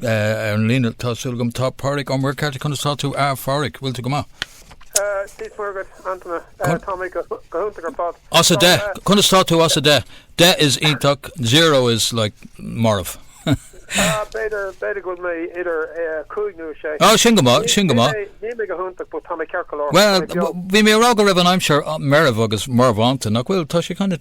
Ar an líne tá, súil agam, tá Páraic Ó Muircheartaigh. Conas atá tú, a Pháraic? Bhfuil tú go maith? Dia is Muire dhuit, Antaine. Tá mé go hiontach ar fad. As a deich, conas tá tú as a deich? Deich is iontach, zero is like marbh. B'fhéidir, b'fhéidir go bhfuil mé idir cúig nó a sé. Á, sin go maith, sin go maith. Níl mé go hiontach, but tá mé ceart go leor. Bhuel, bhí mé a rá go raibh an aimsir meirbh agus marbhánta, nach bhfuil? Tá sé kind of.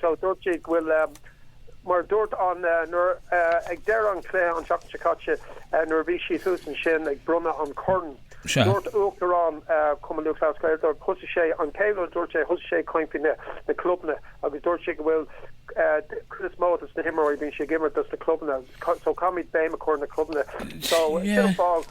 so dúirt sé go bhfuil, mar a dúirt an, nuair, ag deireadh an chluiche an tseachtain seo caite nuair a bhí siad thuas ansin ag bronnadh an choirn, dúirt Uachtarán Chumann Lúthchleas Gael, dúirt, thosaigh sé an chéad rud a dúirt sé, thosaigh sé ag caint faoi na clubanna agus dúirt sé go bhfuil an chuid is mó dos na himreoirí bíonn siad ag imirt dos na clubanna so caithfimid béim a chur ar na clubanna so sin an fáth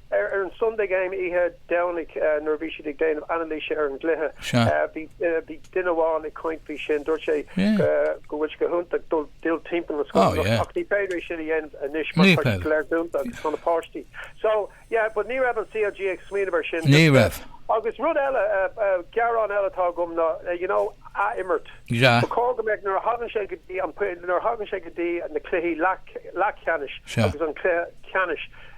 Ar an Sunday Game oíche Dhomhnaigh nuair a bhí siad ag déanamh anailíse ar an gcluiche, bhí duine amháin ag caint faoi sin, dúirt sé go bhfuil sé go hiontach dul timpeall na scoileanna ach ní féidir é sin a dhéanamh anois mar tá siad go léir dúnta agus tá na páistí. So, yeah, but ní raibh an CLG ag smaoineamh ar sin. Ní raibh. Agus rud eile, gearán eile atá agam ná, you know, ath-imirt. Ba chóir go mbeadh, nuair a thagann sé go dtí an, nuair a thagann sé go dtí na cluichí leathcheannais agus an cluiche ceannais,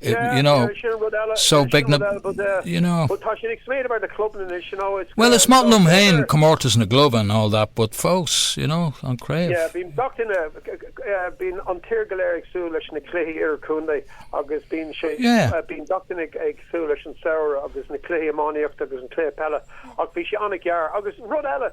Yeah, sin rud eile, sin rud eile, but eh, but tá sin ag smaoineamh ar na clubanna anois, you know, it's eh, well is maith liom féin comórtas na gclub and all that, but fós, you know, an craobh. Yeah, bíonn gach duine, eh, bíonn an tír go léir ag súil leis na cluichí idirchontae agus bíonn sé, yeah. Bíonn gach duine ag súil leis an samhradh agus na cluichí iománaíocht agus an cluiche peile, ach bhí sé ana-ghearr agus rud eile,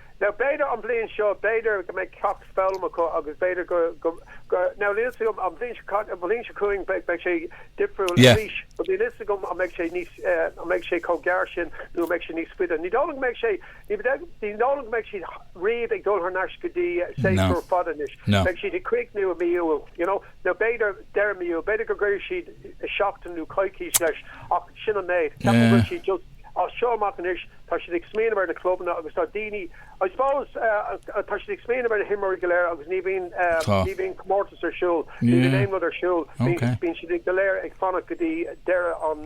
Now b'fhéidir an bhliain seo, b'fhéidir go mbeidh ceacht foghlamtha acu agus b'fhéidir go, go, go, now níl 'fhios agam an bhliain seo, an bhliain seo chugainn beidh sé difriúil yeah. arís but níl 'fhios agam an mbeidh sé níos, an mbeidh sé chomh gearr sin nó an mbeidh sé níos faide. Ní dóigh liom go mbeidh sé, ní dóigh liom go mbeidh siad riamh ag dul thar n-ais go dtí séasúr fada anois. No. Beidh siad ag críochnú i mí Iúil, you know, Nó b'fhéidir, deireadh mí Iúil, b'fhéidir go gcuirfidh siad seachtain nó coicís leis, ach sin an méid. Ceapaim go bhfuil siad just as seo amach anois, tá siad ag smaoineamh ar na clubanna agus tá daoine, I suppose, tá siad ag smaoineamh ar na himreoirí go léir agus ní bhíonn, ní bhíonn comórtas ar siúl, ní bhíonn aon rud ar siúl, bíonn siad go léir ag fanacht go dtí deireadh an,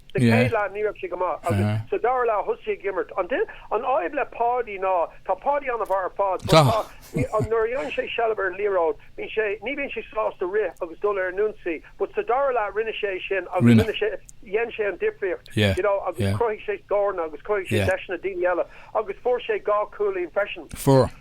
Sa chéad leath ní raibh sé go maith agus sa dara leath thosaigh sé ag imirt. An fhadhb le Páidí ná tá Páidí an-mhaith ar fad but tá, nuair a fhaigheann sé seilbh ar an liathróid, bíonn sé, ní bhíonn sé sásta rith agus dul ar an ionsaí but sa dara leath rinne sé é sin agus rinne sé, dhein sé an difríocht you know agus chruthaigh sé scóranna agus chruthaigh sé deiseanna daoine eile agus fuair sé dhá chúilín freisin. Fuair.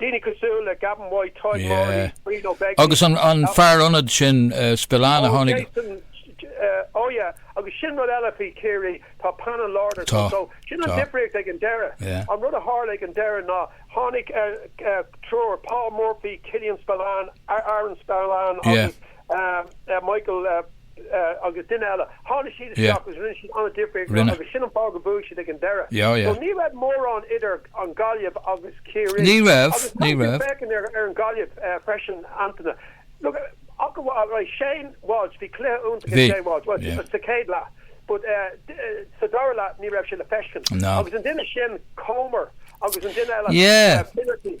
Daoine cosúil le Gavin White, Tadhg Morley, Brian Ó Beaglaoich, agus an fear ionaid sin Spillane a tháinig. Oh yeah. Agus sin rud eile faoi Chiarraí, tá painéal láidir ansin, so sin an difríocht ag an deireadh. An rud a tharla ag an deireadh ná tháinig triúr, Paul Murphy, Killian Spillane, Adrian Spillane agus. eh, Michael, eh, agus duine eile, tháinig siad Yeah. isteach agus rinne siad an-difríocht Rinne. agus sin an fáth go mbuaigh siad ag an deireadh. Yeah, yeah. So ní raibh mórán idir an Gaillimh agus Ciarraí. Ní raibh, Agus ní caithfidh tú raibh. féachaint ar, ar an Gaillimh eh, freisin, Antaine. Look, eh, acu, eh, right, Shane Walsh, bhí cluiche iontach ag Bhí, Shane Walsh, well, yeah. sa chéad leath, but eh, d- eh, sa dara leath ní raibh sé le feiscint. No. Agus an duine sin, Comer, agus an duine eile, Yeah. eh, Finnerty.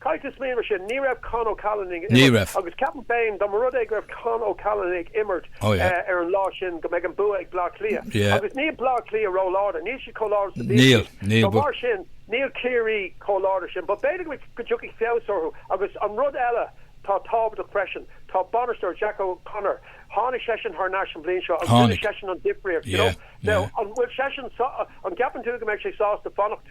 Caithfidh tú smaoineamh sin. Ní raibh Con O'Callaghan ag Ní imirt raibh. agus ceapaim féin, dá mba rud é go raibh Con O'Callaghan ag imirt Oh yeah. ar an lá sin, go mbeidh an bua ag Bleá Cliath. Yeah. Agus níl Bleá Cliath ró-láidir. Níl siad chomh láidir is a bhíodh Níl. siad. Níl So, mar sin, níl Ciarraí chomh láidir sin. But b'fhéidir go go dtiocfaidh feabhas orthu. Agus an rud eile atá tábhachtach freisin, tá bainisteoir, Jack O'Connor, tháinig seisean thar n-ais an bhliain seo agus rinne Tháinig. seisean an difríocht, you know. Yeah. Now, Yeah. an bhfuil seisean sa- an gceapann tú go mbeidh sé sásta fanacht?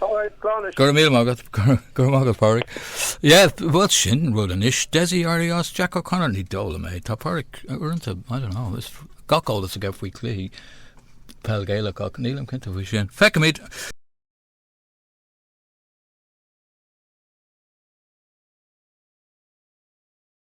All right, slán anois. Go raibh míle maith agat. Go raibh maith agat Pádhraic. Yeah, bhuel sin rud anois. Dessie ar ais, Jack O'Connor, ní dóigh liom é. Tá Pádhraic uaireanta, I don't know, tá gach eolas aige faoi cluichí peil Gaelach ach nílim cinnte faoi sin. Feicimid.